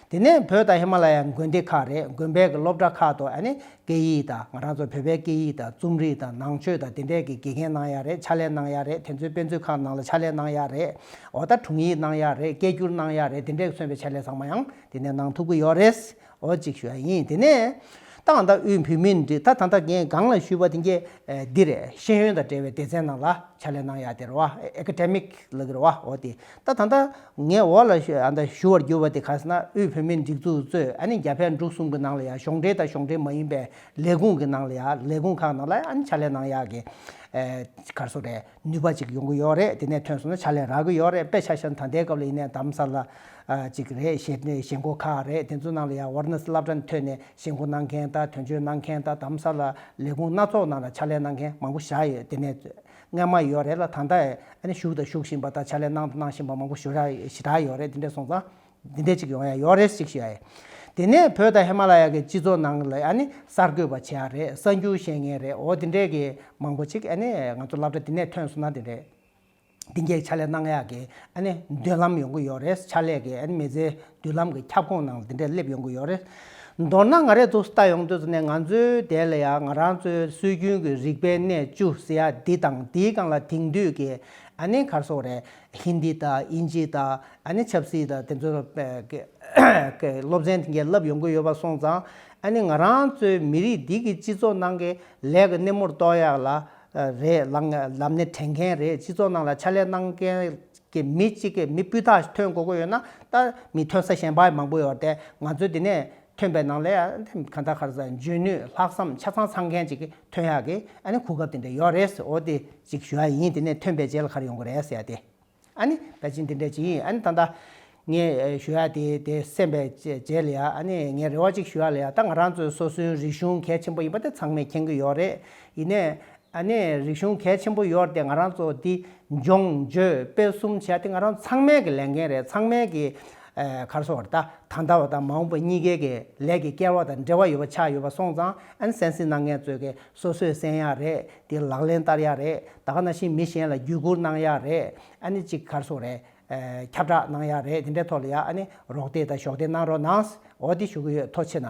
དེ་ནས་བོད་དང་ཧི་མ་ལ་ཡའི་དགོན་སྡེ་ཁག་རེད་དགོན་པའི་གི་སློབ་གྲྭ་ཁག་ཏུ་ཨ་ནི་སྐད་ཡིག་དང་ང་རང་ཚོ་བོད་པའི་སྐད་ཡིག་དང་རྩོམ་རིག་དང་ནང་ཆོས་དང་དེ་འདྲས་ཀི་དགེ་རྒན་གནང་ཡག་རེད་ཕྱག་ལས་གནང་ཡག་རེད་དེ་ཚོའི་དཔེ་མཛོད་ཁང་ནང་ལ་ཕྱག་ལས་གནང་ཡག་རེད་འོ་ད་དྲུང་ཡིག་གནང་ཡག་རེད་སྐད་སྒྱུར་གནང་ཡག་རེད་དེ་འདྲས་ཀི་སོན་པའི་ཕྱག་ལས་ཚང་མ་ཡང་དེ་ནས་གནང་ཐུབ་ཀི་ཡོག་རེད། འོ་ཅིག་ཞུ་ཡ་ཡིན་དེ་ནས། ཏང་ཨུད་དབུས་འཕུལ་མི་འདི་ད་ད་ད་ངས་སྒང་ལ་ཞུས་པ་དེ་འདི་རེད་ཤེས་ཡོན་དང་འབྲེལ་བའི་སྡེ་ཚན་ནང་ལ་ཕྱག་ལས་གནང་ཡ་དེ་རེད་བ Academic ལག་གི་རེད་བ་འོ་དེ་ད་ད་ད་ངས་འོག་ལ་ཞུ་བར་གྱུར་བ་དེ་ག་ས་ན་དབུས་འཕུལ་མི་སྒྲིག་འཛུགས་གཙོས་ཨ་ནི་རྒྱ་བལ་འབྲུག་གསུམ་གི་ནང་ལ་ཡ་གཞུང་འབྲེལ་དང་གཞུང་འབྲེལ་མ་ཡིན་པའི་ལས་ཁུངས་ཀྱི་ནང་ལ་ཡ་ལས་ཁུངས་ཁག་ནང་ལ་ཨ་ནི་ཕྱག་ལས་གནང་ཡ་གི་གར་སོ་རེད། ནུས་པ་ཅིག་ཡོང་གི་ཡོད་རེད་དེ་ནས་ཐོན་སོང་ན་ཕྱག་ལས་རག་གི་ཡོད་རེད་དཔེ་ཆ་ཤར་ན་ད་ལྟའི་སྐབས་ལ་ཡིན་ནའི་གདམ་ས་ལ་ཅིག་རེད་ཞེས་མགོ་ཁ་རེད་དེ་ཚོ་ནང་ལ་ཡང་བར་ན་བསླབ་གྲྭ་ནས་ཐོན་ནས་ཞེ་མགོ་གནང་མཁན་དང་དོན་གཅོད་གནང་མཁན་དང་གདམ་ས་ལ་ལས་ཁུངས་སྣ་ཚོགས་ནང་ལ་ཕྱག་ལས་གནང་མཁན་མང་པོ་བཞག་ཡོད་དེ་ནས་རྔན་མ་ཡོད་རེད་ལ་ད་ལྟ་ཨ་ནི་བཞུགས་དང་བཞུགས་བཞིན་པ་དང་ཕྱག་ལས་གནང་དང་གནང་བཞིན་པ་མང་པོ་ཞུ་དག་ཡོད་རེད་དེ་འདྲས་སོང་ཙང་འདི་འདྲས་ཅིག་ཡོང་ཡ་ཡོག་རེད་ཅིག་ཞུ་ཡ་ཡིན། དེ་ནས་བོད་དང་ཧི་མ་ལ་ཡ་གི་སྤྱི་ཚོགས་ནང་ལ་ཡ་ནི་གསར་འགོད་པ་བྱེད་ཡ་རེད་གསར་འགྱུར་བཤད་ངེས་རེད་འོ་དེ་འདྲས་ཀྱི་མང་པོ་ཅིག་ཡ་ནི་ང་ཚོ་བསླབ་གྲ་དེ་ནས་ཐོན་སོང་ན་དེ་འདྲས་དེ་འགས་ཕྱག་ལས་གནང་ཡ་གི་ཡ་ནི་མདུན་ལམ་ཡོང་གི་ཡོག་རེད་ཕྱག་ལས་ཀྱི་ཡ་ནི་མི་ཚེའི་མདུན་ལམ་གྱི་ཁྱབ་ཁོངས་ནང་ལ་དེ་འདྲས་སླེབས་ཡོང་གི་ཡོག་རེད། མདོར་ན་ང་རེ་ཚོ་སྟ་ཡོང་དུས་ནས་ང་ཚོའི་དད་ལ་ཡ་ང་རང་ཚོའི་སྲོལ་རྒྱུན་གྱི་རིག་པའི་གནས་བཅུ་ཟེར་ཡ་འདི་དང་འདིའི་སྒང་ལ་དེང་དུས་ཀྱི་ཡ་ནི་གར་སོག་རེད། ཧིན་དི་དང་དབྱིན་ཇི་དང་ཆབ་སྲིད་དང་དེ་ཚོར་སློབ་ཚན་འགན་བསླབ་ཡོང་གི་ཡོད་པ་སོང་ཙང་ང་རང་ཚོའི་མི་རིགས་འདི་གི་སྤྱི་ཚོགས་ནང་གི་ལས་ཀྱི་སྣེ་མོར་གཏོགས་ཡག་ལ་རེད་ལབ་ནས་དྲན་མཁན་རེད་སྤྱི་ཚོགས་ནང་ལ་ཕྱག་ལས་གནང་མཁན་གྱི་མི་གཅིག་གི་མི་སྤུས་དག་ཐོན་དགོས་ཀྱི་ཡོད་ན་ད་མི་ཐོན་ས་གཞན་པ་མང་པོ་ཡོད་དེ་ང་ཚོས་དེ་ནས་ཐོན་པའི་ནང་ལས་གང་དག་གར་འཇོན་ནུས་ལྷག་བསམ་ཆ་ཚང་ཚང་མཁན་ཅིག་ཐོན་ཡག་གི་གོ་སྐབས་དེ་འདྲ་ཡོད་རེད་འོ་དེ་ཅིག་ཞུ་ཡག་ཡིན་དེ་ནས་ཐོན་པའི་རྗེས་ལ་གར་ཡོང་གི་རེད་ཟེར་ཡག་དེ་ད་ཅིག་འདི་འདྲ་ཅིག་ཡིན་ད་ད་ངས་ཞུ་ཡག་དེ་དེ་སེམས་པའི་རྗེས་ལ་ཡག་ངས་རེ་བ་ཅིག་ཞུ་ཡག་ལ་ཡག་ད་ང་རང་ཚོའི་སོ་སོའི་རིག་གཞུང་གལ་ཆེན་པོ་ཡིན་པ་དེ་ཚང་མས་མཁྱེན་གི་ཡོད་རེད་ཡིན་ནས་ཨ་ནེ་རིག་གཞུང་གལ་ཆེན་པོ་ཡོར་ཏེ་ང་རང་ཚོ་འདི་སྦྱོང་བརྗོད་སྤེལ་གསུམ་བྱས་ཏེ་ང་རང་ཚང་མས་ཀྱི་ལས་འགན་རེད་ཚང་མས་ཀྱི་གར་སོང་བར་ད་ད་འདའ་བ་དང་མ་འོངས་པ་གཉིས་ཀའི་ཀྱི་ལས་ཀྱི་སྐལ་བ་དང་འབྲེལ་བ་ཡོད་པ་ཆགས་ཡོད་པ་སོང་ཙང་ཨན་སན་སི་ན་ངས་ཚོས་ཀྱི་སོ་སོས་གསན་ཡག་རེད་དེ་ལག་ལེན་བསྟར་ཡག་རེད་ད་ག་ན་བཞིན་མི་གཞན་ལ་བརྒྱུད་སྐུར་གནང་ཡག་རེད་ཨ་ནེ་གཅིག་གར་སོང་རེད་ཁྱབ་བསྒྲགས་གནང་ཡག་རེད་དེ་འདྲའི་ཐོག་ལ་ཡག་ཨ་ནེ་རོགས་འདེགས་དང་གཞོགས་འདེགས་གནང་རོགས་གནང་འོ་དེ་ཞུ་གི་ཡོད་ཐོ་ཆེ་ན།